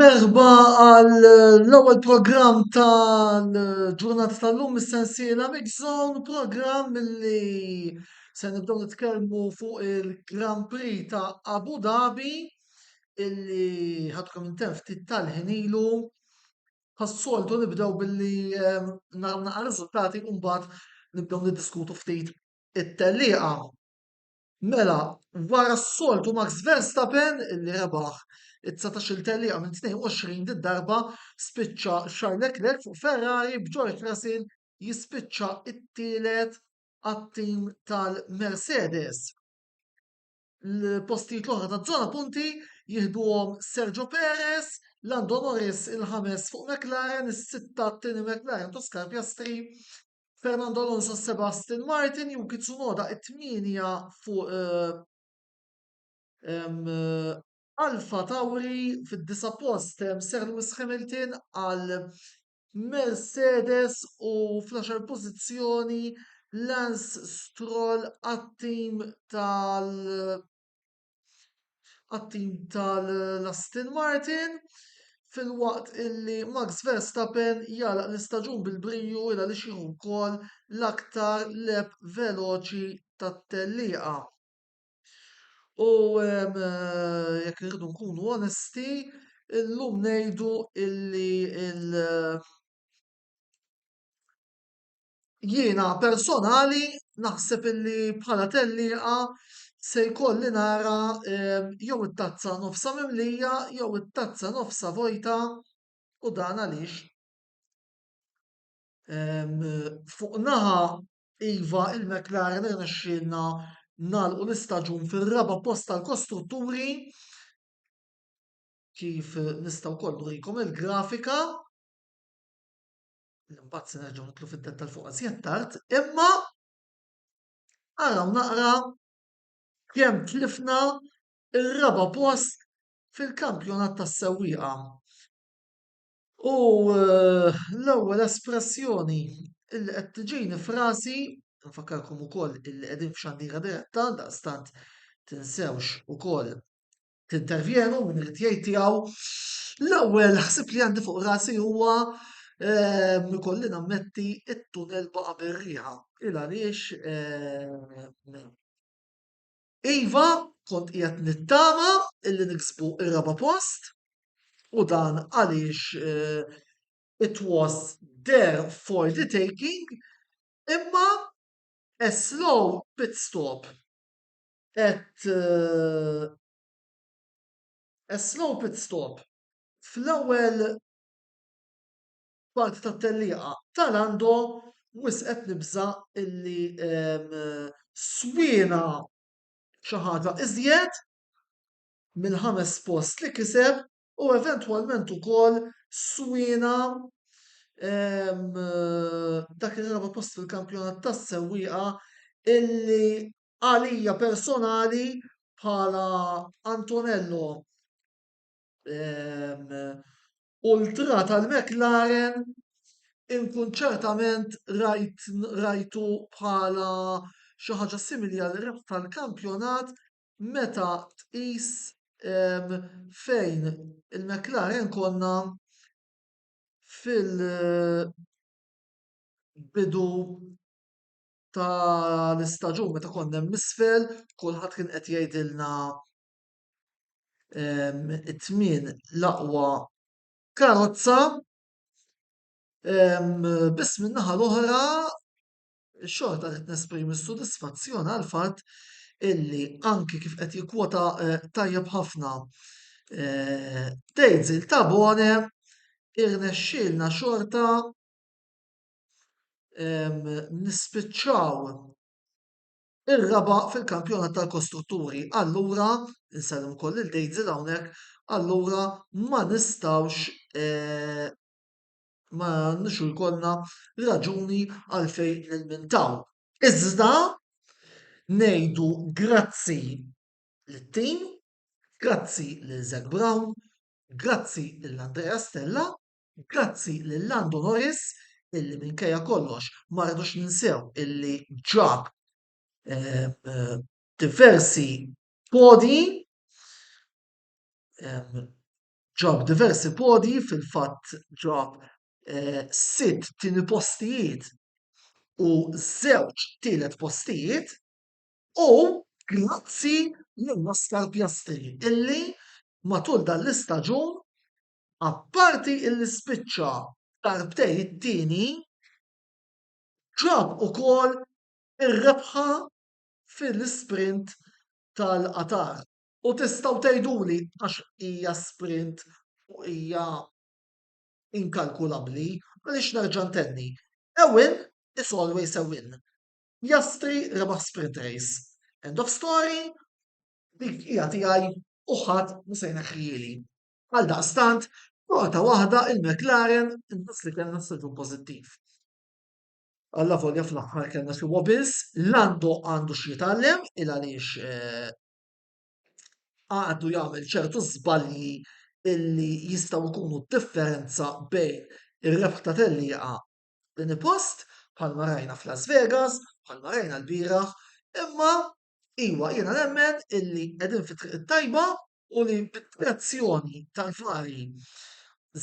Merħba għal l-ewwel programm tal-ġurnata tal-lum is-sensiela Mix Zone, programm li se nibdew nitkellmu fuq il-Grand Prix ta' Abu Dhabi illi ħadkom intemm ftit tal-ħin ilu. Pas-soltu nibdew billi nagħmlu riżultati u mbagħad nibdew niddiskutu ftit it-tellieqa. Mela, wara s-soltu Max Verstappen li rebaħ it-dsatax-il tellieqa minn 22 did-darba, spiċċa Charles Leclerc fuq Ferrari b'George Russell jispiċċa t-tielet għat-tim tal-Mercedes. L-postijiet l-oħra taż-żona punti jieħduhom Sergio Perez, Lando Norris il-ħames fuq McLaren, is-sitta t-tieni McLaren ta' Oscar Piastri, Fernando Alonso Sebastin Martin Yuki Tsunoda it-tmienja fuq Alfa Tauri fid-disa' post Sir Lewis Hamilton għal Mercedes u fl-għaxar pożizzjoni Lance Stroll għat-tim tal- għat-tim tal-Aston Martin filwaqt illi Max Verstappen jagħlaq l-istaġun bil-brio il għaliex jieħu wkoll l-aktar leb veloċi tat-tellieqa. U ehm, jekk irridu nkunu onesti, illum ngħidu illi il- jiena personali naħseb illi bħala tellieqa se jkolli nara jew it-tazza nofsha mimlija jew it-tazza nofsha vojta u dan għaliex? Fuq naħa iva il-McLaren irnexxielna nagħlqu l-istaġun fir-raba' post tal-kostrutturi kif nista' wkoll nurikom il-grafika. Imbagħad se nerġgħu nitlu fid-dettal fuq għażjed tard, imma araw naqra kemm tlifna ir-raba' post fil-kampjonat tas-sewwieqa. U eh, l-ewwel espressjoni illi qed tiġini frasi, nfakkarkom ukoll illi qegħdin f'xandira diretta, daqstant tinsewx ukoll tintervjenu min irid jgħid tiegħu. L-ewwel ħsib li għandi fuq rasi huwa ehm, ikolli nammetti it-tunel baqa' bir-riħa. Il għaliex ehm, Iva kont qiegħed nittama illi niksbu ir-raba' post u dan għaliex eh, it was there for the taking imma a slow pit stop At a slow pit stop, fl-ewwel part tat-tellieqa ta' Lando, wisq qed nibża' illi swiena xi ħaġa iżjed mill-ħames post li kiseb u eventwalment ukoll swiena dak ir-raba' post fil-kampjonat tas-sewwieqa illi għalija personali bħala Antonello ehm, ultra tal-McLaren inkun ċertament rajt, rajtu bħala xi ħaġa simili għal rib tal-kampjonat meta tqis ehm, fejn il-McLaren konna fil-bidu tal-istaġun meta konna hemm isfel, kulħadd kien qed jgħidilna it-tmien l-aqwa karozza, biss min-naħa l-oħra xorta qed nesprimi s-sodisfazzjon għall-fatt illi anki kif qed jikkwota tajjeb ħafna Dejzil Tabone irnexxielna xorta nispiċċaw ir-raba' fil-kampjonat tal-kostrutturi. Allura, insellem ukoll lil Dejzel hawnhekk, allura ma nistgħux eh, ma nixu jkollna raġuni għalfejn nilmintaw. Iżda ngħidu grazzi lit-tim, grazzi lil Zac Brown, grazzi lil Andrea Stella Grazzi lil Lando Norris illi minkejja kollox ma rridux ninsew illi ġab diversi podi ġab diversi podi fil-fatt ġab sitt tieni postijiet u żewġ tielet postijiet u grazzi lil Oscar Piastri illi matul dan l-istaġun apparti li spiċċa darbtejn it-tieni, ġab ukoll ir-rebħa fil-isprint tal-Qatar. U tistgħu tgħiduli għax hija sprint u hija inkalkulabbli, għaliex nerġa' ntenni, a win is always a win. Piastri rebaħ sprint race. End of story, dik hija tiegħi u ħadd mhu se jneħħihieli. Għaldaqstant, xorta waħda il-McLaren inqas li kellna staġun pożittiv. Allavolja fl-aħħar kellna xi wobbles, Lando għandu xi jitgħallem il għaliex eh, għadu jagħmel ċertu żbalji illi jistgħu jkunu differenza bejn ir-rebħ ta' tellieqa din post bħalma rajna f'Las Vegas, bħalma rajna l-bieraħ, imma iwa jiena nemmen illi qegħdin fit-triq tajba u li bid-direzzjoni tal-fari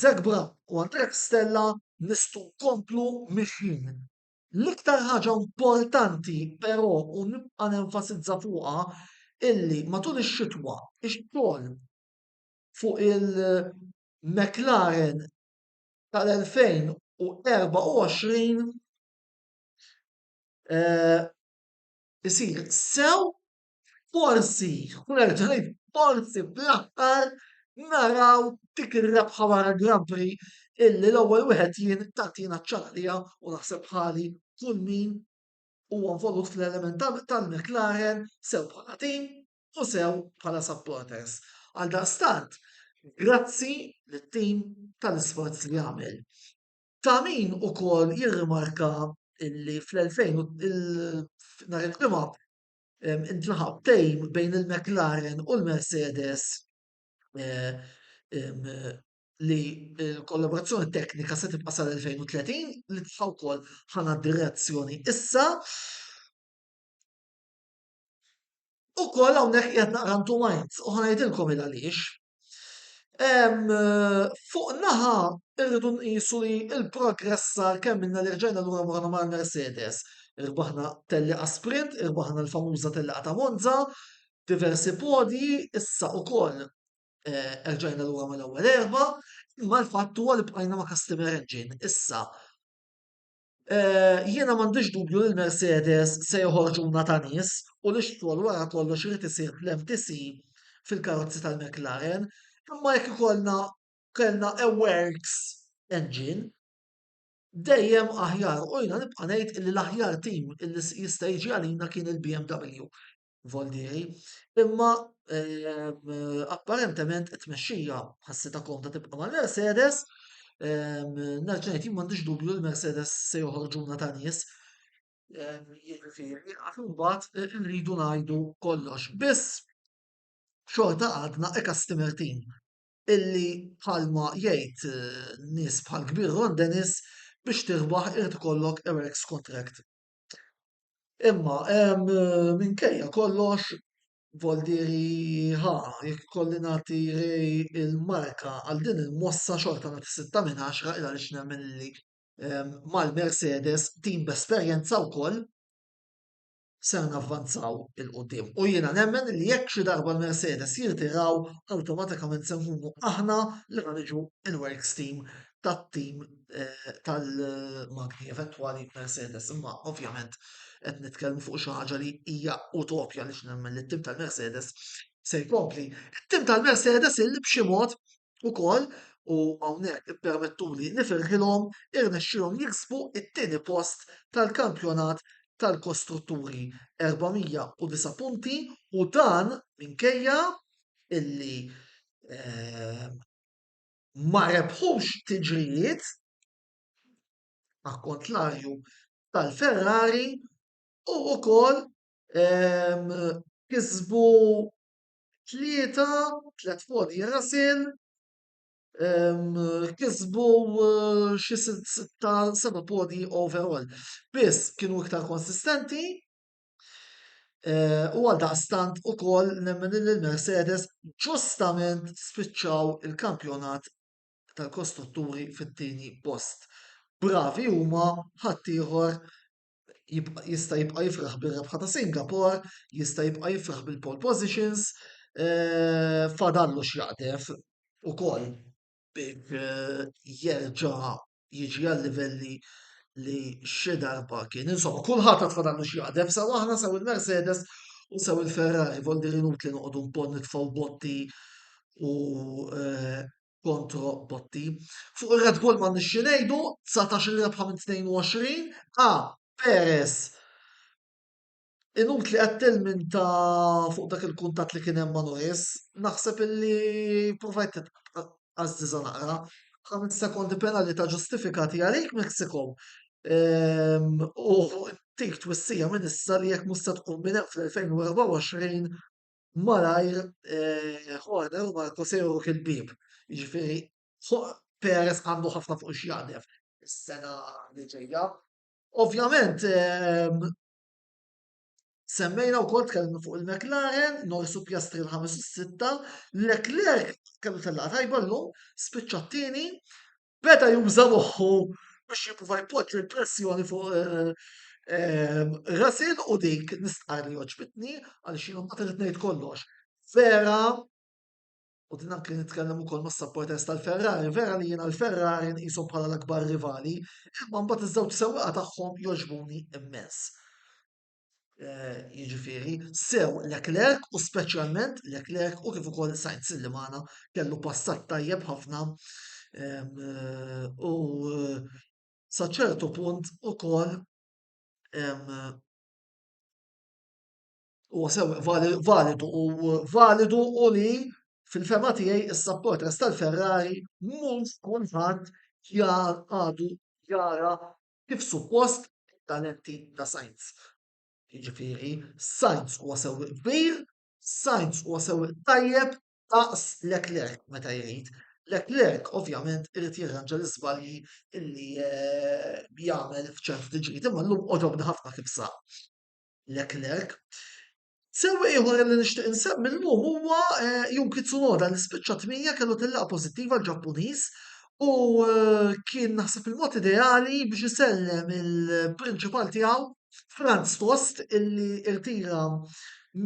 Zac Brown u Andrea Stella nistgħu nkomplu mixjin. L-iktar ħaġa importanti però u nibqa' nenfasizza fuqha illi matul ix-xitwa x-xogħol fuq il-McLaren tal-2024 isir sew Forsi, u nerġa' ngħid forsi fl-aħħar naraw dik ir-rebħa wara l-Grand Prix illi l-ewwel wieħed jien tagħtina ċ-ċaqlija u naħseb ħali kull min huwa involut fl-element tal-McLaren sew bħala tim u sew bħala supporters. Għal daqstant, grazzi lit-tim tal-isforz li għamel. Ta' min ukoll jirrimarka illi fl-2000 nhar il-ġimgħa intlaħaq tejm bejn il-McLaren u l-Mercedes li l-kollaborazzjoni teknika se tibqa' sal-2030 li tista' wkoll ħana direzzjoni issa. Ukoll hawnhekk qed naqra ntu minds u ħanajdilkom il għaliex Fuq naħa irridu nqisu li l-progress sar kemm minna li rġajna lura morna ma' Mercedes. Irbaħna telliqa sprint, irbaħna l-famuża telliqa ta' Monza, diversi podji, issa ukoll eh, erġajna lura mal-ewwel erba, imma l-fatt huwa li bqajna ma' customer engine. Issa Jiena m'għandix dubju li l-Mercedes se joħorġuna ta' nies u li x-xogħol wara kollox irid isir fl-MTC fil-karozzi tal-McLaren, imma jekk ikollna kellna e-works engine dejjem aħjar u jiena nibqa' ngħid li l-aħjar tim li jista' jiġi għalina kien il-BMW. Voldieri, imma ehm, apparentement it-tmexxija ħassita komda tibqa' mal-Mercedes, ehm, nerġajt jien m'għandix dubju l-Mercedes se joħorġuna ta' nies. Ehm, jiġifieri, għax imbagħad eh, irridu ngħidu kollox. Biss xorta għadna e customer team illi bħalma jgħid eh, nies bħal kbir Ron Dennis biex tirbaħ irid ikollok Eric's contract. Imma hemm minkejja kollox Voldieri ħa jekk kolli nagħti il-marka għal din il-mossa xorta nagħti 6 minn 10 il għaliex nemmen li ehm, mal-Mercedes tim b'esperjenza wkoll se navvanzaw il-qoddim. U jiena nemmen li jekk xi darba l-Mercedes jirtiraw, awtomatikament se nkunu aħna li ħaniġu il-Works Team tat-tim tal-magni eventwali Mercedes, imma ovvjament qed nitkellmu fuq xi ħaġa li hija utopja għaliex nemmen li t-tim tal-Mercedes se jkompli. It-tim tal-Mercedes illi b'xi mod ukoll u hawnhekk ippermettuli nifirħilhom irnexxilhom jiksbu it-tieni post tal-kampjonat tal-kostrutturi 409 punti u dan minkejja illi eh, ma rebħux tiġrijiet akkontlarju tal-Ferrari u wkoll ehm, kisbu tlieta, tliet fodi rasil, ehm, kisbu eh, xi sitta seba' podi overall. Biss kienu iktar konsistenti Eh, u għal daqstant u koll nemmen li l-Mercedes ġustament spiċċaw il-kampjonat tal-kostrutturi fit-tieni post. Bravi huma ħaddieħor jista' jibqa' jifraħ bir-rebħa ta' Singapore, jista' jibqa' jifraħ bil-pole positions, eh, fadallu x'jaqdef ukoll biex eh, jerġa' jiġi għal livelli li xi darba kien. Insomma, kulħadd għad fadallu xi jaqdef sew aħna sew il-Mercedes u sew il-Ferrari vol diri nutli noqogħdu npon nitfgħu botti u eh, kontro botti. Fuq ir-Red Bull ma nixxi ngħidu 19 rebħa minn 22 a Perez Inutli qed tilminta fuq dak il-kuntatt li kien hemm ma' Noes, naħseb illi provajt titqażżiżha naqra. Ħames sekondi penalità ġustifikati għalik Mexico ehm, u tik twissija minn issa li jekk mhux se tkun minn hemm fl-2024 malajr eh, Horner u Marco se juruk il-bieb. Jiġifieri fuq Perez għandu ħafna fuq x'jaqdef is-sena li ġejja. Ovvjament ehm, Semmejna wkoll tkellimna fuq il-McLaren, Norris u Piastri l-ħames u sitta, Leclerc kellu tellaqgħa tajba llum, spiċċa t-tieni, beda juża moħħu biex jipprova jpoġġi l-pressjoni fuq eh, eh, Russell u dik nistqar li oġbitni għal xi ma trid ngħid kollox. Vera u din anke nitkellem ukoll mas-supporters tal-Ferrari, vera li jiena l-Ferrari nqishom bħala l-akbar rivali, imma mbagħad iż-żewġ sewwieqa tagħhom jogħġbuni immens. Eh, jiġifieri sew Leclerc u speċjalment Leclerc u kif ukoll Sainz li magħna kellu passat tajjeb ħafna eh, u eh, sa ċertu punt ukoll huwa sew validu u validu u li fil-fema tiegħi is-support res tal-Ferrari mhux kulħadd jar għadu jara kif suppost talenti ta' Sainz. Jiġifieri Sainz huwa sew kbir, Sainz huwa sew tajjeb daqs Leclerc meta jrid. Leclerc ovvjament irid jirranġa l-iżbalji illi eh, jagħmel f'ċertu tiġri, imma llum għodobni ħafna kif saq. Leclerc. Sewwieq ieħor li nixtieq insemmi llum huwa eh, Yuki Tsunoda li spiċċa tmija kellu tillaqgħa pożittiva l-Ġappuniż u eh, kien naħseb il-mod ideali biex isellem il-prinċipal tiegħu Franz Tost illi irtira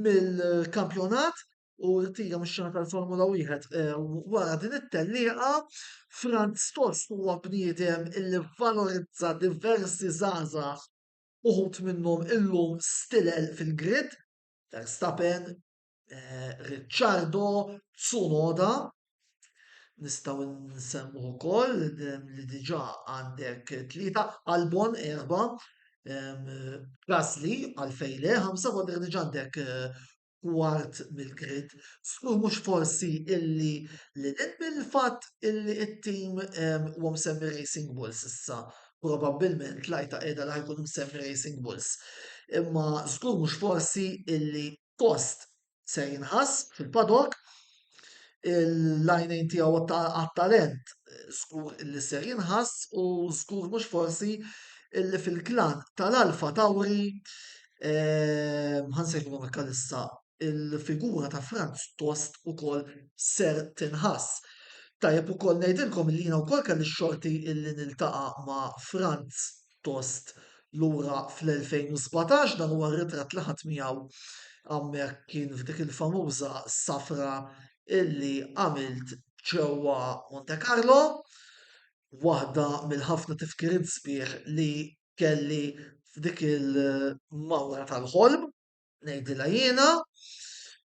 mill-kampjonat u rtira mix-xena tal-Formula 1 eh, wara din it-tellieqa Franz Tost huwa bniedem illi valorizza diversi żgħażagħ uħud minnhom illum stilel fil-grid, Verstappen, eh, Ricciardo, Tsunoda, nistgħu nsemmu wkoll li diġà għandek tlieta, Albon erba, Gasly għalfejn le, ħamsa għandek diġà għandek eh, kwart mill-grid, żgur mhux forsi illi lil hinn mill-fatt illi t-tim huwa msemmi Racing Bulls issa, probabbilment l-għajta qiegħda li ħajkun msemmi Racing Bulls. Imma żgur mhux forsi illi post se jinħass fil-paddock l-għajnejn tiegħu għat-talent żgur li ser jinħass u żgur mhux forsi illi fil-klan tal-Alfa Tauri ehm, ħansejħulu Mikalissa il-figura ta' Franz Tost ukoll ser tinħass. Tajjeb ukoll ngħidilkom li jiena wkoll kelli xorti illi niltaqa' ma' Franz pjuttost lura fl-2017, dan huwa r-ritratt li ħadt miegħu hawnhekk kien f'dik il-famuża safra illi għamilt ġewwa Monte Carlo, waħda mill-ħafna tifkiriet sbieħ li kelli f'dik il-mawra tal-ħolm, ngħidilha jiena.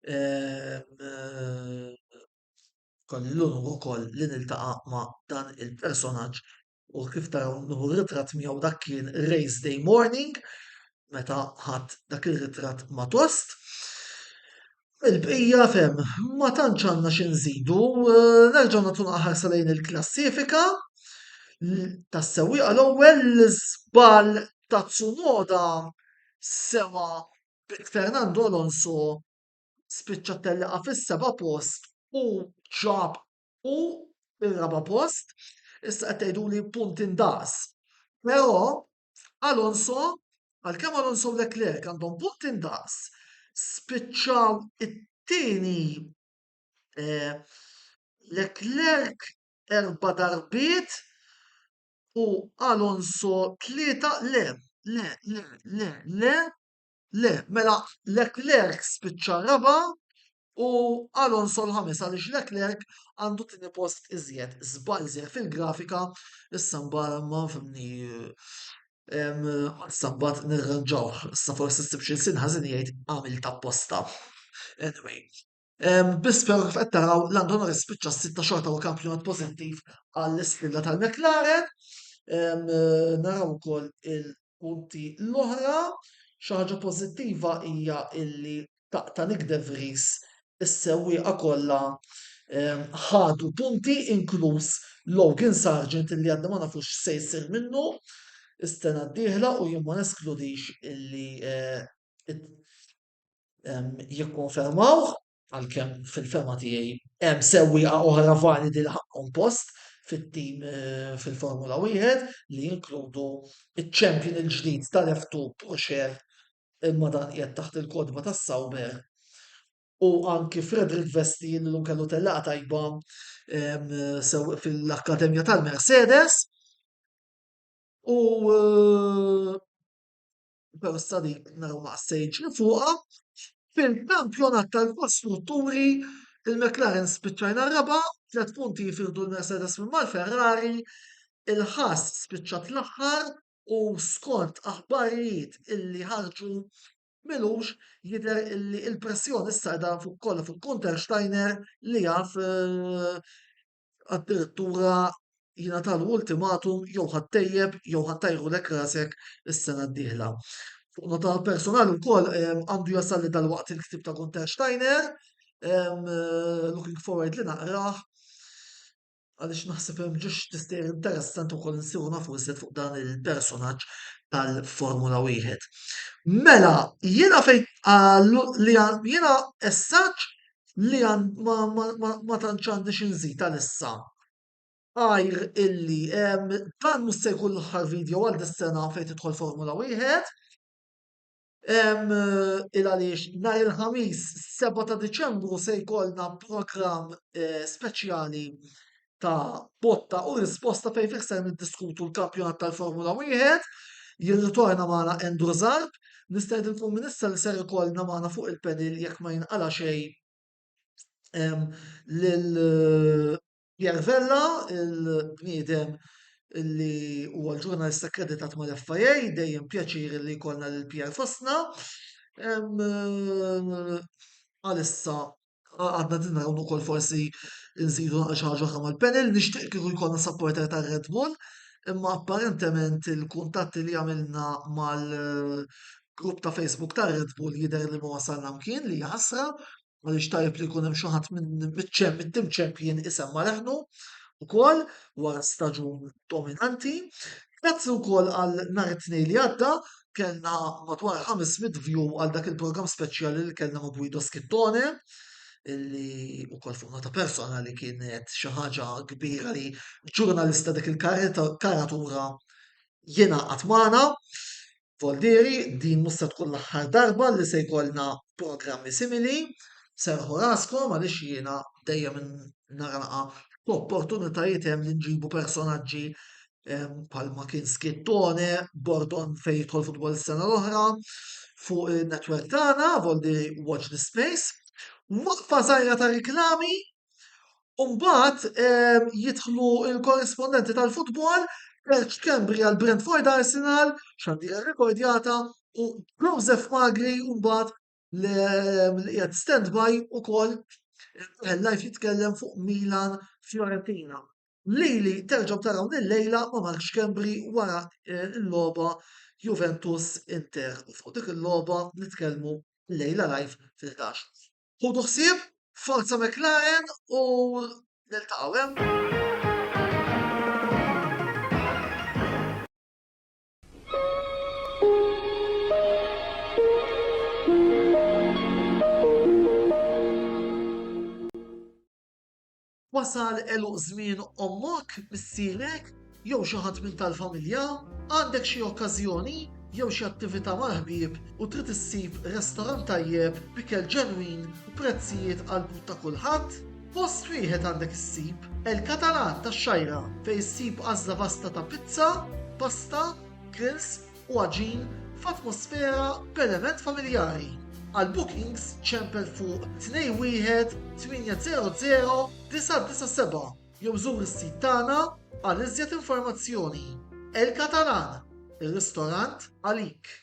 Ehm, kolli l-unur ukoll li niltaqa' ma' dan il-personaġġ u kif taraw nuhu ritrat miegħu dak kien race day morning meta ħadd dak ir-ritrat ma tost. Il-bqija fem, ma tantx għandna xi nżidu, eh, nerġgħu nagħtu naħarsa lejn il-klassifika tas-sewwieqa l-ewwel żball ta' Tsunoda sewa Fernando Alonso spiċċa telliqa fis-seba' post u ġab u ir-raba' post, issa qed tgħiduli punt indaqs. Però Alonso, għalkemm Alonso u Leclerc għandhom punt indaqs, spiċċaw it-tieni eh, Leclerc erba' darbiet u Alonso tlieta le, le, le, le, le, Le, mela Leclerc spiċċa r-raba' u Alonso l-ħames għaliex Leclerc għandu tieni post iżjed. Żball żgħir fil-grafika, issa mbagħad ma fimni issa mbagħad nirranġawh. Issa forsi ssib xi ħażin jgħid għamilt apposta. Anyway, Biss però kif qed taraw Lando Norris spiċċa s-sitta xorta u kampjonat pożittiv għall-isfida tal-McLaren. Naraw ukoll il-punti l-oħra. Xi ħaġa pożittiva hija illi ta' Nick De Vries is-sewwieqa kollha ħadu punti inkluż Logan Sargent li għadna ma nafux se jsir minnu is-sena d-dieħla u jien ma neskludix illi eh, jikkonfermawh għalkemm fil-fema tiegħi hemm sewwieqa oħra validi li ħaqqhom post fit-tim eh, fil-Formula 1 li jinkludu iċ-champion il-ġdid tal-F2 Porsche imma dan qiegħed taħt il-kodba tas Sauber u anki Frederick Vesti li l kellu tella tajba fil-Akkademja tal-Mercedes u eh, Persa li naraw ma qassejtx li fuqha. Fil-kampjonat tal-kostrutturi, il-McLaren spiċċajna raba, tliet punti jifirdu l-Mercedes minn mal-Ferrari, il-Haas spiċċat l-aħħar u skont aħbarijiet illi ħarġu milux jidher illi l-pressjoni issa qiegħda fuq kollha fuq Gunter Steiner li jaf eh, addirittura jingħatalu ultimatum jew ħattejjeb jew ħattajrulek rasek is-sena d-dieħla. Fuq nota personali wkoll ehm, għandu jasal li dal-waqt il-ktib ta' Gunter Steiner, ehm, eh, looking forward li naqrah, għaliex naħseb hemm ġiex tister interessanti wkoll nsiru nafu iżjed fuq dan il-personaġġ tal-Formula Wieħed. Mela, jiena fejn li jiena essaġġ li ma tantx għandi xi nżid għalissa għajr illi dan mhux se jkun l-aħħar video għal dis-sena fejn tidħol Formula Wieħed. Il għaliex nhar il-ħamis 7 ta' Diċembru se jkollna programm eh, speċjali ta' botta u risposta fejn fih ser niddiskutu l-kampjonat tal-Formula Wieħed. Jirritorna magħna Andrew Zarb, nistedinkom minn issa li ser ikollna magħna fuq il-panel jekk ma jinqala' xejn ehm, lil eh, Pierre Vella, il-bniedem li huwa l-ġurnalista akkreditat mal-FIA, dejjem pjaċir li jkollna lil Pierre fostna. Ehm, eh, Għalissa għandna din naraw ukoll forsi nżidu naqra xi ħaġa oħra mal-panel, nixtieq kieku jkollna supporter ta' Red Bull, imma apparentement il-kuntatti li għamilna mal-grupp ta' Facebook ta' Red Bull jidher li ma wasalna mkien li ħasra għaliex tajb li jkun hemm xi ħadd miċ-ċem mit-tim champion isemma leħnu ukoll wara staġun dominanti. Grazzi wkoll għal nhar it-tnejn li għadda kellna madwar 500 view għal dak il-programm speċjali li kellna ma' Guido Schittone illi u kol fuq ta' persona li kienet xi ħaġa kbira li ġurnalista dik il-karatura jena għatmana. Voldieri, din musta tkun l-aħħar darba li se jkollna programmi simili, serħu raskom għaliex jiena dejjem naraqa opportunitajiet hemm li nġibu personaġġi palma kien Skittone, Bordon fejn jidħol futbol sena l-oħra, fuq il-netwerk tagħna, voldi Watch the Space, waqfa żgħira ta' reklami, u mbagħad ehm, jidħlu l-korrispondenti tal-futbol, Elch Cambri għal Brentford Arsenal, xandira rekordjata, u Joseph Magri mbagħad l-qiegħed standby ukoll live jitkellem fuq Milan Fiorentina. Lili terġgħu taraw lejla ma' Mark Xkembri wara eh, l-logħba Juventus Inter. U fuq dik il-logħba nitkellmu lejla live fil-11. Hu tuħsib, forza McLaren u niltaqgħu hemm. Eh? Wasal eluq żmien ommok, missierek, jew xi ħadd minn tal-familja, għandek xi okkażjoni jew xi attività mal-ħbieb u trid issib restorant tajjeb b'ikel ġenwin u prezzijiet għall-but ta' kulħadd? Post wieħed għandek issib El Catalan tax-Xgħajra fejn issib għażla vasta ta' pizza, pasta, grills u għaġin f'atmosfera b'element familjari. Għal bookings ċempel fuq 21 800 997 jew żur is-sit tagħna għal iżjed informazzjoni. El Catalan, ir-ristorant għalik.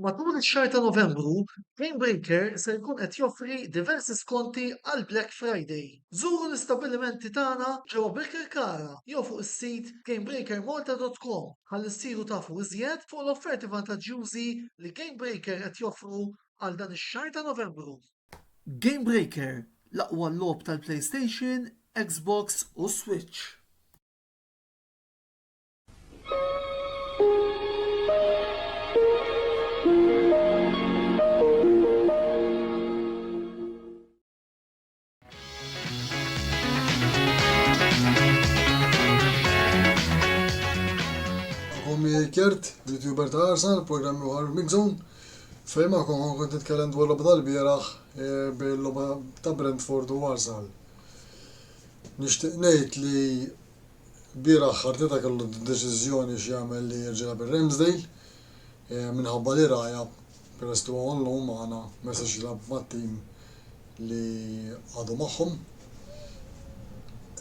Matul ix-xahar ta' Novembru, Gamebreaker se jkun qed joffri diversi skonti għall-Black Friday. Żuru l-istabbilimenti tagħna ġewwa Birkirkara jew fuq is-sit gamebreakermalta.com ħalli ssiru tafu iżjed fuq l-offerti vantaġġjużi li Gamebreaker qed joffru għal dan ix-xahar ta' Novembru. Gamebreaker, l-aqwa logħob tal-PlayStation, Xbox u Switch. Kjert, youtuber ta' Arsenal, program uħar Mixon. Fejn ma' kon kont nitkellem dwar lobda l-bieraħ eh, bil-lobda ta' Brentford u Arsenal. Nishtiq ngħid li Ilbieraħ Arteta kellu d-deċiżjoni x'jagħmel li jerġa' jilgħab ir-Ramsdale minħabba li Raya, peress li huwa on loan magħna, ma jistax jilgħab mat-tim li għadu magħhom.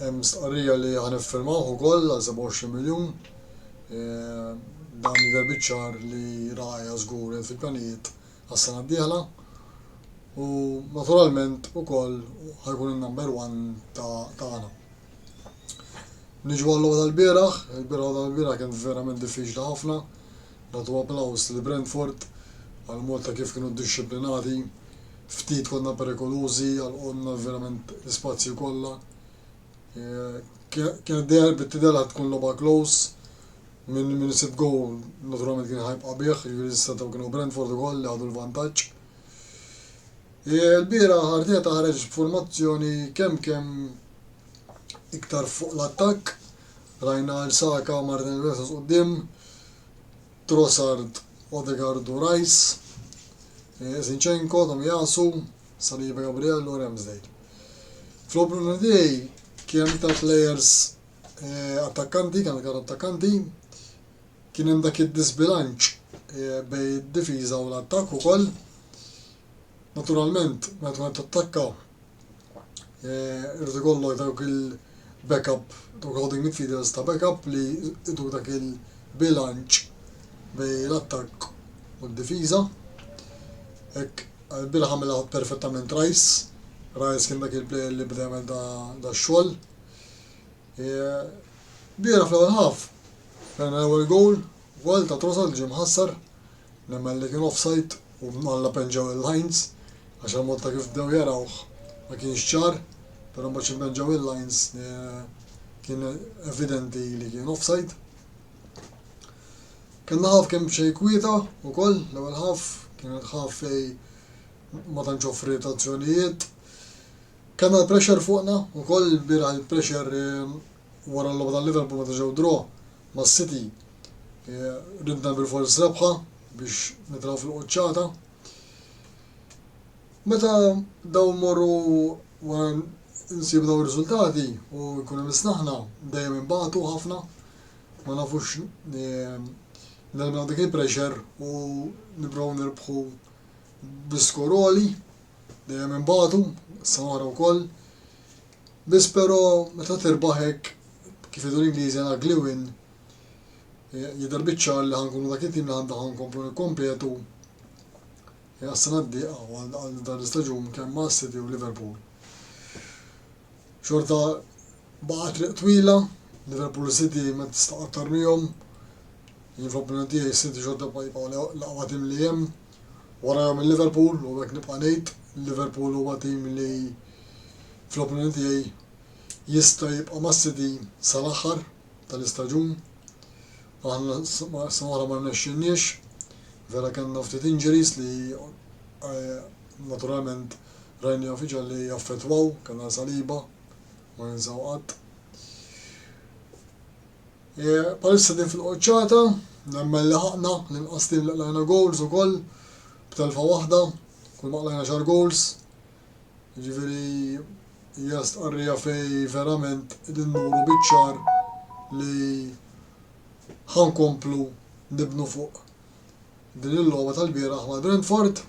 Hemm stqarrija li ħa niffirmawh ukoll għal 27 miljun. Dan jidher biċ-ċar li Raya żgur hemm fil-pjanijiet għas-sena d-dieħla. U naturalment ukoll ħa jkun in-number one tagħna. Niġu għal logħba tal-bieraħ, il-bieraħ logħba tal-bieraħ kienet verament diffiċli ħafna. Nagħtu applaws lil Brentford għal mod ta' kif kienu dixxiplinati, ftit konna perikolużi, għalqulna verament l-ispazji kollha. Eh, kienet dejjem bit-tidher li tkun logħba close, minn min isib gowl naturalment kien ħajbqa' bih, jiġifieri s-setaw kienu Brentford ukoll li ħadu l-vantaġġ. Ilbieraħ Arteta ħareġ b'formazzjoni kemm kemm iktar fuq l-attakk, rajna lil Saka u Martin Odegaard quddiem, Trossard, Odegaard u Rice, Zinchenko, Tomiyasu, Saliba, Gabriel u Ramsdale. Fl-opening day kien hemm iktar players attakkanti, kien hemm iktar attakkanti, kien hemm dak id-diżbilanċ bejn id-difiża u l-attakk ukoll, Naturalment, meta tkun qed tattakka, eh, irid ikollok dawk il-backup, dawk holding midfielders ta' backup li jdu dak il-bilanċ bej l-attakk u d-difiża. Hekk bil ħamela perfettament Rajs. Rajs kien dak il-player li bda jagħmel da xogħol. Eh, Biera fl-ewwel ħaf, fejn l-ewwel goal, Gol ta' Trossard ġie mħassar, nemmen li kien offside u mnalla penġaw lil Heinz għax il-mod ta' kif bdew jarawh ma kienx ċar, però mbagħad xi penġaw lil Heinz kien evidenti li kien offside. Kellna half kemm xejn kwieta wkoll, l-ewwel half kienet half fej ma tantx offriet azzjonijiet. Kellna l-pressure fuqna wkoll, il-bieraħ il-pressure Wara l-logħba ta' Liverpool meta ġew draw ma' City ridna bilfors rebħa biex nitraw fil-quċċata. Meta daw morru wara nsibu daw ir-riżultati u jkun hemm isnaħna dejjem inbagħtu ħafna ma nafux nilmnu dik il-pressure u nibrow nirbħu bl-iskoroli, dejjem imbatu, s-samara u koll, Biss però meta tirbaħ hekk, kif jgħidu l-Ingliżi an ugly win, jidher biċ-ċar li ħa nkunu dak it-tim li għandna ħa nkomplu nikkompetu għas-sena d-dieqa u għal dan l-istaġun kemm ma' City u Liverpool. Xorta baqa' triq twila, Liverpool u City ma tista' aktar miegħhom. Jien fl-opinjoni tiegħi City xorta jibqgħu l-aqwa tim li hemm. Warajhom il-Liverpool u hekk nibqa' ngħid, il-Liverpool huwa tim li fl-opinjoni tiegħi jista' jibqa' mas-City sal-aħħar tal-istaġun. Aħna s-sena l-oħra ma rnexxielniex, vera kellna ftit injuries li naturalment rajnihom f'Iġgħal li jaffettwaw, kellna Saliba, ma ninsaw qatt. Bħalissa din fil-quċċata, nemmen laħaqna l-inqas tim li qlajna goals ukoll b'telfa waħda, kull ma qlajna xar goals. Jiġifieri hija stqarrija fej verament qegħdin nuru biċ-ċar li ħankomplu nibnu fuq Din il-logħba tal-bieraħ mal-Brentford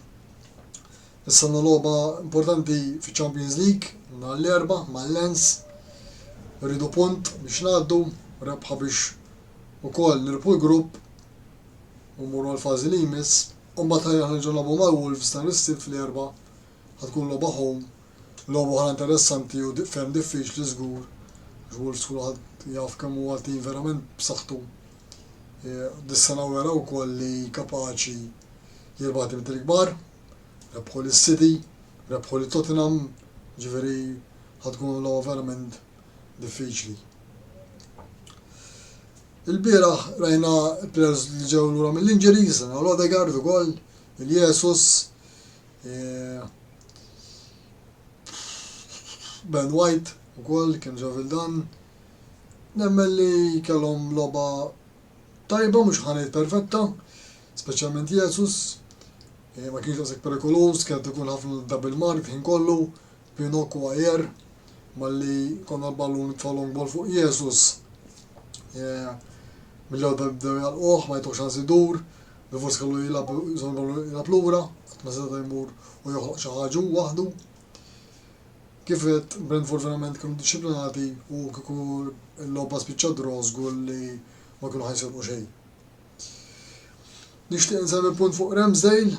Nistennu logħba importanti fiċ-Champions League nhar l-Erbgħa mal-Lens. Irridu punt biex ngħaddu, rebħa biex ukoll nirbħu l-grupp u mmorru għall-fażi li jmiss. U mbagħad ħajja nerġgħu nagħbu mal-Wolves nhar is-Sibt fl-Erbgħa. Ħa tkun logħba home, logħba oħra interessanti u ferm diffiċli żgur. Wolves kulħadd jaf kemm huwa tim verament b'saħħtu. Dis-sena wera wkoll li kapaċi jirbaħ dimiet il-kbar, rebħu lis-City, rebħu lil Tottenham, jiġifieri ħa tkun logħba verament diffiċli. Il-bieraħ rajna players li ġew lura mill-injuries, rajna l-Odegaard ukoll, il-Jesus, eh, Ben White ukoll kien ġew il-dan, Nemmen li kellhom logħba tajba, mhux ħa ngħid perfetta, speċjalment Jesus, eh, ma kienx daqshekk perikoluż, kienet ikun ħafna double mark ħin kollu, Pinok u Ajer, malli konna l-ballun tfa' long ball fuq Jesus. Eh, Mill-ewwel bdew jalquh, ma jtux ħansi dur, Rivers kellu jilab jilab lura, qatt ma seta' jmur u joħloq xi ħaġa waħdu. Kif għedt, b'dan il-fortunament kienu ddixxiplinati u kieku l-logħba spiċċat draw żgur li ma kienu ħa jisilqu xejn. Nixtieq insemmi punt fuq Ramsdale.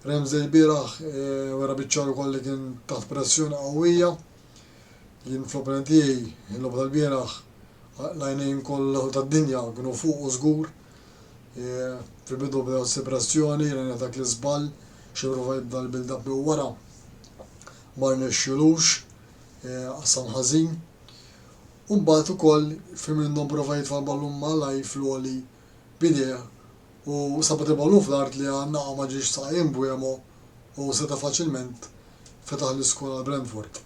Ramsdale bieraħ eh, wera biċċar ukoll li kien taħt pressjoni qawwija. Jien fl-opinjoni tiegħi l-logħba tal-bieraħ l-għajnejn kollha tad-dinja kienu fuq u żgur. Fil-bidu beda jħoss il-pressjoni, jien għamilna dak l-iżball, xi prova jibda l-build-up minn wara, ma rnexxielux, qassam ħażin. U mbagħad ukoll Firmino prova jitfa' l-ballun malaj fl-għoli b'idejh u sabat il-ballun fl-art li għan-naqa ma ġiex saqa' lil Mbeumo u seta' faċilment fetaħ l-iskor għal Brentford.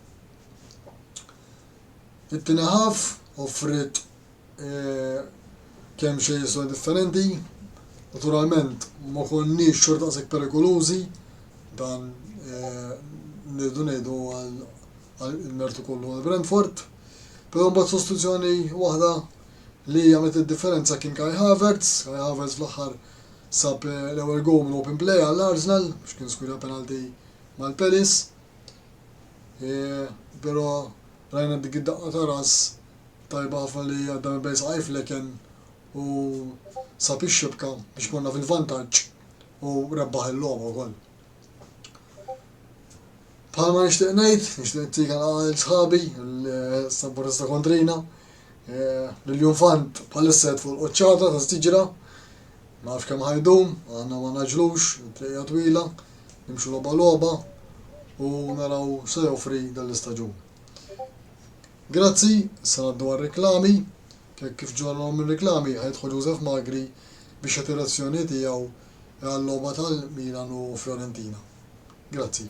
It-tieni ħaf offriet kemm xejn istorja differenti. Naturalment ma konniex xorta daqshekk perikolużi dan nirdu ngħidu għal mertu kollu għal Brentford. Però mbagħad sostituzzjoni waħda li għamlet id-differenza kien Kai Havertz, Kai Havertz fl-aħħar sab eh, l-ewwel goal minn open play għall Arsenal biex kien skwira penalti mal-Pelis. Eh, però rajna dik id-daqqa ta' ras Tajba ħafna li għadda minn bejn saqajh fl-eken u sab ix-xibka biex morna fil-vantaġġ u rebbaħ il-logħba wkoll. Bħalma nixtieq ngħid, nixtieq nittik għal sħabi l-Saburista Kontrina, eh, l-Jumfant bħalissa fuq il-qoċċata ta' stiġra, ma nafx kemm ħajdum, għandna ma naġlux, tlejja twila, nimxu logħba logħba u naraw se joffri dan l-istaġun. Grazzi, issa ngħaddu għar-riklami. Hekk kif ġo għalhom ir-riklami, ħa jidħol Joseph Magri biex jagħti r-reazzjoni tiegħu għal-logħba tal-Milan u Fiorentina. Grazzi.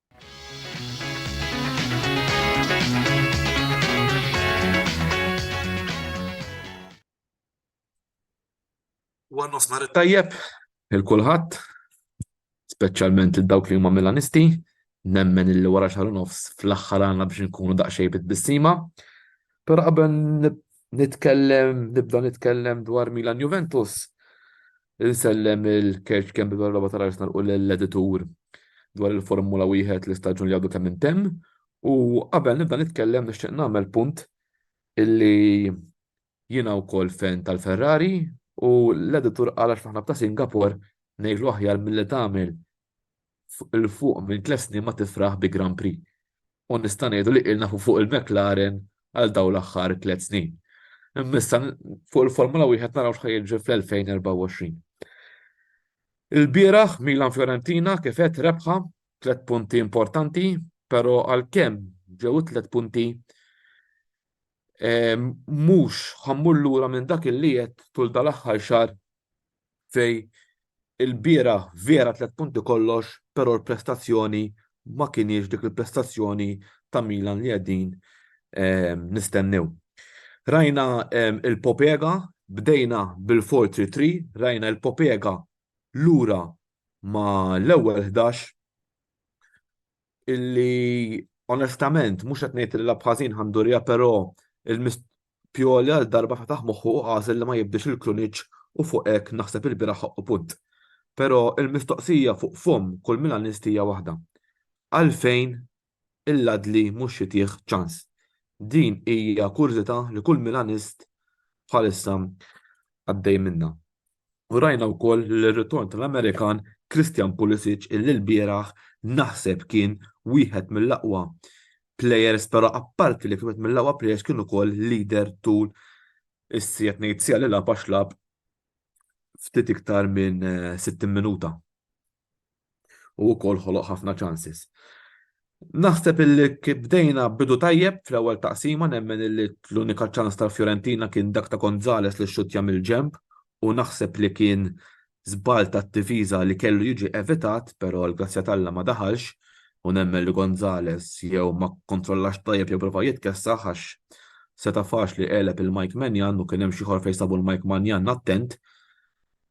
War nofsnar it-tajjeb, il-kulħadd, speċjalment il dawk li huma Milanisti, nemmen illi wara xar nofs fl-aħħar għandna biex nkunu daqsxej bit-bissima. Però qabel nitkellem, nibda nitkellem dwar Milan Juventus, Insellem il kerċ kemm bil logħba tal-Arsenal u l-editur dwar il-Formula wieħed li staġun li għadu kemm intemm u qabel nibda nitkellem nixtieq nagħmel punt illi jiena wkoll fen tal-Ferrari u l-editur qal għax aħna b'ta' Singapore ngħidlu aħjar milli tagħmel 'l fuq minn tliet snin ma tifraħ bi Grand Prix u nista' ngħidu li qilna fuq il-McLaren għal dawn l-aħħar tliet snin. Imma issa fuq il-Formula Wieħed naraw x'ħa jiġri fl-2024. Ilbieraħ Milan Fiorentina kif għedt rebħa tliet punti importanti, però għalkemm ġew it-tliet punti mhux ħa mmur lura minn dak li għedt tul dal-aħħar xahar fej il-bieraħ vera tliet punti kollox però l-prestazzjoni ma kinhiex dik il-prestazzjoni ta' Milan li qegħdin nistennew. Rajna il-Popega, bdejna bil-4-3-3, rajna il-Popega lura ma l-ewwel 11 illi onestament mhux qed ngħid li l-Abħażin ħandurija però il-mist Pjoli għal darba fetaħ moħħu u għażel li ma jibdix il-kluniċ u fuq hekk naħseb il-biraħ u punt. Però il-mistoqsija fuq fomm kull Milanisti hija waħda. Għalfejn il-Ladli mhux jitih ċans? Din hija kurżità li kull Milanist bħalissa għaddej minnha. U rajna wkoll l-ritorn tal-Amerikan Christian Pulisic illi lbieraħ naħseb kien wieħed mill-aqwa players però apparti li kien wieħed mill-aqwa players kien ukoll leader tul is-siegħa tnejn siegħa li lagħab għax lagħab ftit iktar minn 60 eh, minuta. u wkoll ħoloq ħafna chances. Naħseb illi bdejna bidu tajjeb fl-ewwel taqsima nemmen illi l-unika ċans tal-Fiorentina kien dak ta' Gonzales li xxuttja mill-ġenb u naħseb li kien żball tat-difiża li kellu jiġi evitat, però l-grazzja t'Alla ma daħalx u nemmen li Gonzales jew ma kkontrollax tajjeb jew prova jitkessaħ għax seta' faċli għeleb il-Mike Maignan u kien hemm xi ħor fejn sabu l-Mike Maignan attent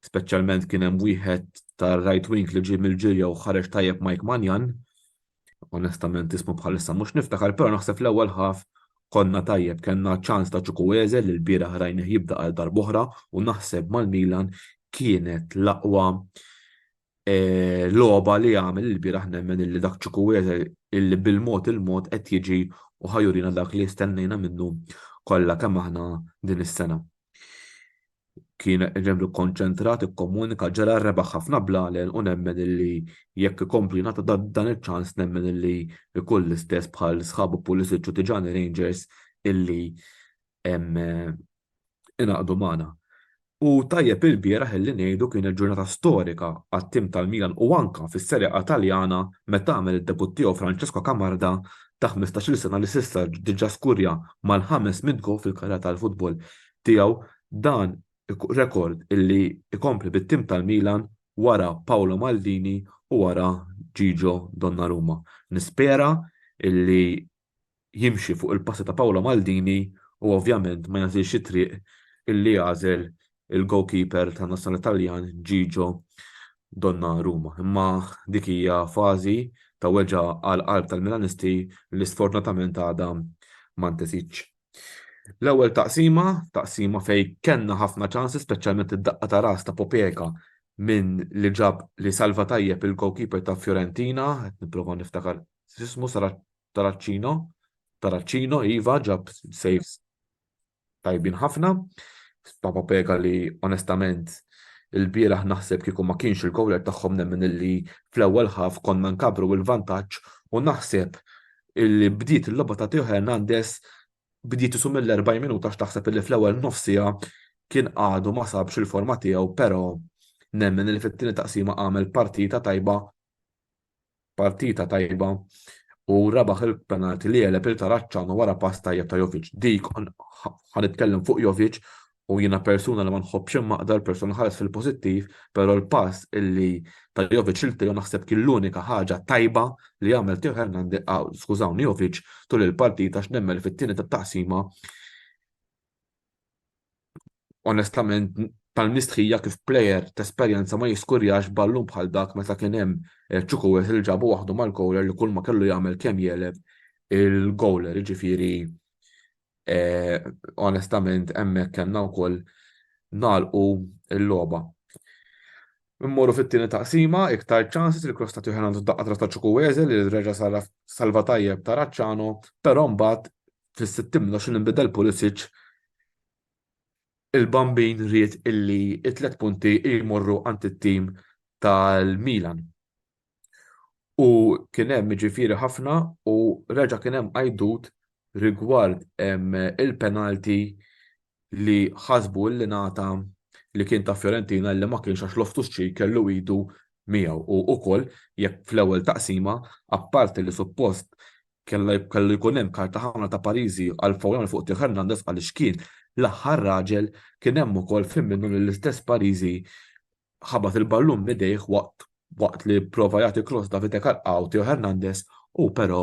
speċjalment kien hemm wieħed tar-right wing li ġie mill-ġirja u ħareġ tajjeb Mike Manjan. Onestament ismu bħalissa mhux niftakar, però naħseb l-ewwel ħaf konna tajjeb kellna ċans ta' Ċukweze li l-bira ħrajnih jibda għal darbohra u naħseb mal-Milan kienet l-aqwa logħba li għamel il-bieraħ nemmen illi dak Chukwueze illi bil-mod il-mod qed jiġi u ħa jurina dak li stennejna minnu kollha kemm aħna din is-sena. Kien ġenwin kkonċentrat, ikkomunika, ġara, rebaħ ħafna blalen u nemmen illi jekk ikompli jingħata dan iċ-ċans nemmen illi jkun l-istess bħal sħabu Pulisic u Tijani Rangers illi ingħaqdu magħna. U tajjeb ilbieraħ illi ngħidu kienet ġurnata storika għat-tim tal-Milan u anke fis-Serie A Taljana meta għamel id-debutt tiegħu Francesco Camarda ta' ħmistax-il sena li s'issa diġà skurja mal-ħames mitt goal fil-karriera tal-futbol tiegħu dan rekord illi jkompli bit-tim tal-Milan wara Paolo Maldini u wara Gigio Donnarumma. Nispera illi jimxi fuq il-passi ta' Paolo Maldini u ovvjament ma jagħżilx it-triq illi għażel il-goalkeeper tan-nazzjonali Taljan Gigio Donnarumma. Imma dik hija fażi ta' weġgħa għall-qalb tal-Milanisti li sfortunatament għadha ma ntesitx. L-ewwel taqsima, taqsima fejn kellna ħafna ċansi speċjalment id-daqqa ta' ras ta' Popeka minn li ġab li salva tajjeb il-goalkeeper ta' Fiorentina, qed nipprova niftakar X'ismu Taraċċino? Taraċċino iva ġab saves tajbin ħafna. Papa Pega li onestament il-bieraħ naħseb kieku ma kienx il-gowler tagħhom nemmen illi fl-ewwel ħaf konna nkabru il-vantaġġ u naħseb illi bdiet il-logħba ta' Teo Hernandez bdiet isu mill-40 minuta x'taħseb illi fl-ewwel nofsija kien għadu ma sabx il-forma tiegħu però nemmen li fit-tieni taqsima għamel partita tajba partita tajba u rebaħ il-penalti li għeleb il-Taraċċanu wara pass tajjeb ta' Jovic. Dik ħa nitkellem fuq Jovic u jiena persuna li ma nħobbx immaqdar persuna ħares fil-pożittiv, però l-pass illi ta' Jovic il-tiju naħseb kien l-unika ħaġa tajba li għamel Teo Hernandez, skużawni Jovic, tul il-partita x'nemmen li fit-tieni tat-taqsima onestament tal-mistħija kif plejer t'esperjenza ma jiskurjax ballun bħal dak meta kien hemm Chukwueze li ġabu waħdu mal-corner li kulma kellu jagħmel kemm jegħleb il-goaler, jiġifieri onestament hemmhekk kellna wkoll nagħlqu l-logħba. Immorru fit-tieni taqsima, iktar chances li cross ta' Teo Hernandez f'daqqa tras ta' Chukwueze li reġa' salva tajjeb ta' Racciano, però mbagħad fis-60 minuta xi nbidel Pulisic il-Bambin ried illi t-tliet punti jmorru għand it-tim tal-Milan. U kien hemm jiġifieri ħafna u reġa' kien hemm għajdut rigward il-penalti li ħasbu li ngħata li kien ta' Fiorentina li ma kienx għax Loftus Cheek kellu idu miegħu u ukoll jekk fl-ewwel taqsima apparti li suppost kellu jkun hemm karta ħamra ta' Pariżi għal fawlan fuq Theo Hernandez għaliex kien l-aħħar raġel kien hemm ukoll fim minnu li l-istess Pariżi ħabat il-ballun midejh waqt waqt li prova jagħti cross Davide Kalqaw Teo Hernandez u però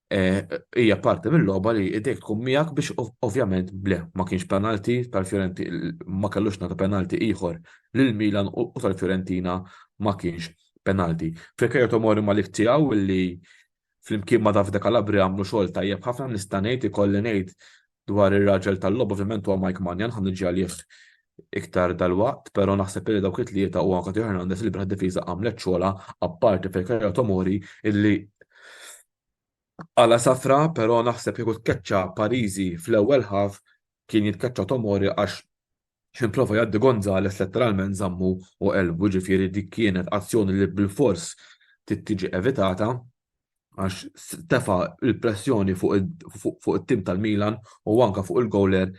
eh, hija parti mill-logħba li idejk tkun miegħek biex ovvjament ble ma kienx penalti tal-Fjorenti ma kellux nagħtu penalti ieħor lil Milan u tal-Fiorentina ma kienx penalti. Fekajja Tomori Malik tiegħu li flimkien ma Davide Kalabri għamlu xogħol tajjeb ħafna nista' ngħid ikolli ngħid dwar ir-raġel tal-logħob ovvjament huwa Mike Maignan, ħa niġi għalih iktar dalwaqt, però naħseb li dawk it-tlieta u anke Theo Hernandez li bħala difiża għamlet xogħolha apparti fil-karriera Tomori illi għala safra, però naħseb kieku tkeċċa Pariżi fl-ewwel ħaf kien jitkeċċa Tomori għax X'ħin prova jgħaddi Gonzalez letteralment żammu u qelbu, ġifieri dik kienet azzjoni li bilfors trid tiġi evitata għax tefa' l-pressjoni fuq it-tim tal-Milan u anke fuq il-gowler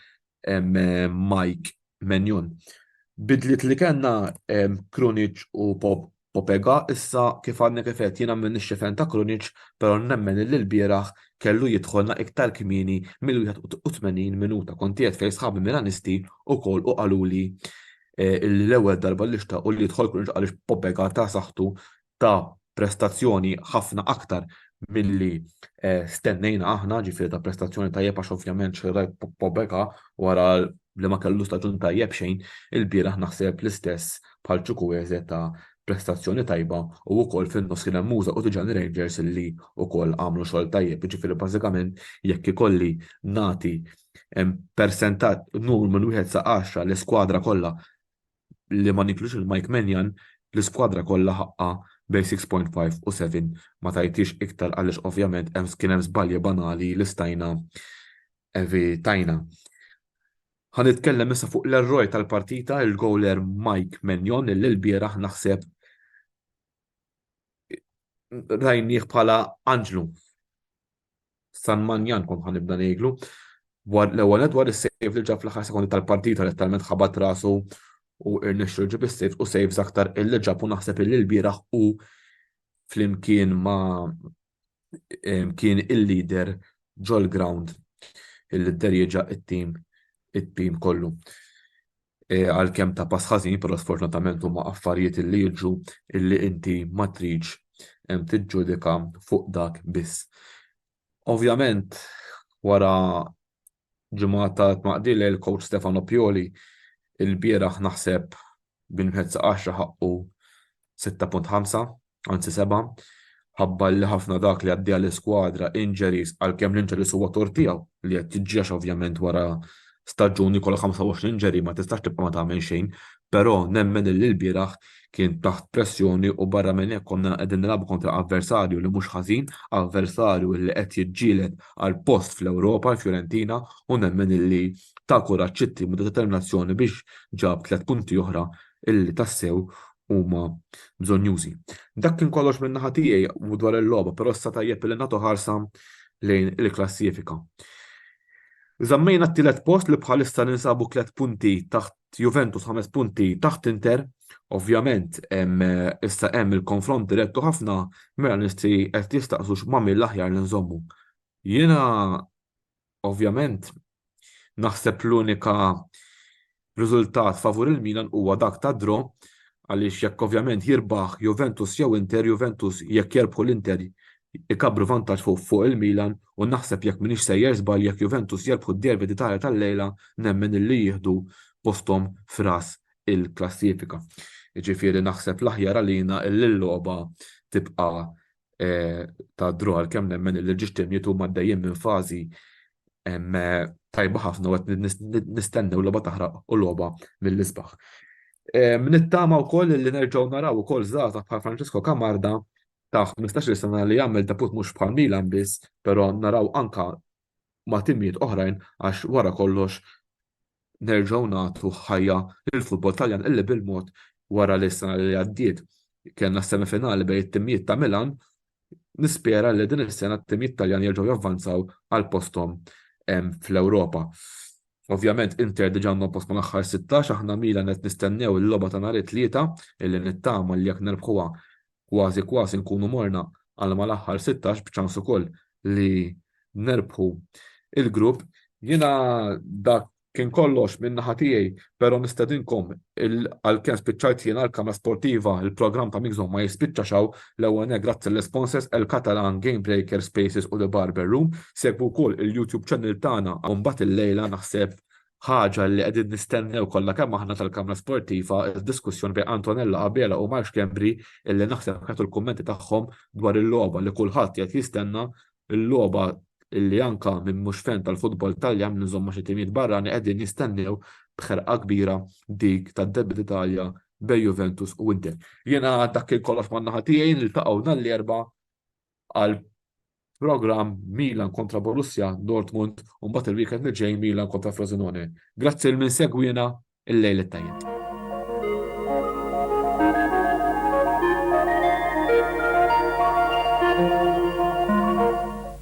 Mike Maignan. Bidliet li kellna Krunic u Pope Popega, Issa, kif għadni kif għedt, jiena m'iniex xifen ta' Krunic, però nemmen illi lbieraħ kellu jidħolna iktar kmieni mill-81 minuta. Kont qiegħed fejn sħabi Milanisti wkoll u qaluli illi l-ewwel darba li xtaqu li jidħol Krunic għaliex Popega ta saħħtu, ta prestazzjoni ħafna aktar milli stennejna aħna, ġifieri ta prestazzjoni tajjeb għax ovvjament xi rajt Popega wara li ma kellu staġun tajjeb xejn ilbieraħ naħseb l-istess bħal Chukwueze ta prestazzjoni tajba u wkoll fin-nofs kien hemm Musa u Tidjani Rangers li wkoll għamlu xogħol tajjeb jiġifieri bażikament jekk ikolli nagħti persentaġġ numru minn wieħed sa għaxra l-iskwadra kollha li ma niklux il-Mike Menjan l-iskwadra kollha ħaqqha bejn 6.5 u 7 ma tajtix iktar għaliex ovvjament hemm kien hemm żbalji banali li stajna evitajna. Ħa nitkellem issa fuq l-erroj tal-partita, il-goler Mike Menjon, li l-bieraħ naħseb rajnieh bħala anġlu. San Manjan kon ħan nibda ngħidlu. L-ewwel dwar is-sejf li ġab fl-aħħar sekondi tal-partita li talment ħabat rasu u irnexxu ġib is-sejf u sejf aktar illi ġab u naħseb illi l-bieraħ u flimkien ma kien il-leader ġol-ground illi dderjeġa it-tim it-tim kollu. E, għalkemm ta' pass ħażin, però sfortunatament huma affarijiet li jiġu illi inti ma tridx tiġġudika fuq dak biss. Ovvjament, wara Ġimgħa ta' tnaqdi lejl coach Stefano Pioli il-bieraħ naħseb bil-mhezz għaxra ħaqqu 6.5, anzi seba', ħabbar li ħafna dak li għaddiha l-iskwadra injuries għalkemm l-injuries huwa tort tiegħu li qed jiġġiex ovvjament wara staġun li jkollok 25 injury ma tistax tibqa' ma tagħmel xejn Però nemmen illi lbieraħ kien taħt pressjoni u barra minn hekk konna qegħdin nilagħbu kontra avversarju li mhux ħażin, avversarju illi qed jiġġieled għal post fl-Ewropa, l-Fiorentina, u nemmen illi ta kuraġġ it-tim u ta determinazzjoni biex ġab tliet punti oħra illi tassew huma bżonnjużi. Dak kien kollox minn naħa tiegħi dwar il-logħba, però issa tajjeb illi nagħtu ħarsa lejn il-klassifika. Żammejna t-tielet post li bħalissa ninsabu tliet punti taħt Juventus ħames punti taħt Inter, ovvjament issa hemm il-konfront direttu ħafna mela nisti qed jistaqsu x'ma min l-aħjar li nżommu. Jiena ovvjament naħseb l-unika riżultat favur il-Milan huwa dak ta' dro għaliex jekk ovvjament jirbaħ Juventus jew Inter, Juventus jekk jerbħu l-Inter ikabbru vantaġġ fuq il-Milan u naħseb jekk m'iniex sejjer żball jekk Juventus jerbħu d-derby d'Italja tal-lejla nemmen illi jieħdu posthom f'ras il-klassifika. Jiġifieri naħseb l-aħjar għalina illi l-logħba tibqa' ta' draw għalkemm nemmen illi l-Ġixtirniet huma għaddejjin minn fażi tajba ħafna u qed nistennew logħba taħraq u logħba mill-isbaħ. Nittama wkoll illi nerġgħu naraw ukoll żgħażagħ bħal Francesco Camarda ta' ħmistax-il sena li jagħmel debut mhux bħal Milan biss, però naraw anke ma' timijiet oħrajn għax wara kollox nerġgħu nagħtu ħajja lill-futbol Taljan illi bil-mod wara li s-sena li għaddiet kellna s-semifinali bejn it-timijiet ta' Milan, nispera li din is-sena t-timijiet Taljan jerġgħu javvanzaw għal posthom fl-Ewropa. Ovvjament Inter diġà għandhom post mal-aħħar 16, aħna Milan qed nistennew il-logħba ta' nhar it-Tlieta illi nittama li jekk nerbħuha kważi kważi nkunu morna għal mal-aħħar sittax b'ċans ukoll li nerbħu l-grupp. Jiena dak kien kollox minn naħa tiegħi, però nistedinkom għalkemm spiċċajt jiena l-kamra sportiva, il-programm ta' Mixzone ma jispiċċax hawn, l-ewwel nett grazzi lill-sponsors El Catalan, Game Breaker, Spaces u The Barber Room, segwu wkoll il-YouTube channel tagħna u mbagħad illejla naħseb ħaġa li qegħdin nistennew kollha kemm aħna tal-Kamra Sportiva diskussjoni bejn Antonella Abela u Mark Kembri illi naħseb kietu l-kummenti tagħhom dwar il-logħba li kulħadd qed jistenna l-logħba illi anka minn mhux fen tal-futbol Taljan minn żomma xi timijiet barrani qegħdin jistennew b'ħerqa kbira dik tad-Derby d'Italja bej Juventus u Inter. Jiena dak il-kollox man-naħa tiegħi niltaqgħu nhar l-erba' għal programm Milan kontra Borussia Dortmund u mbagħad il-weekend li ġej Milan kontra Frosinone. Grazzi l min segwina il-lejl it-tajjeb.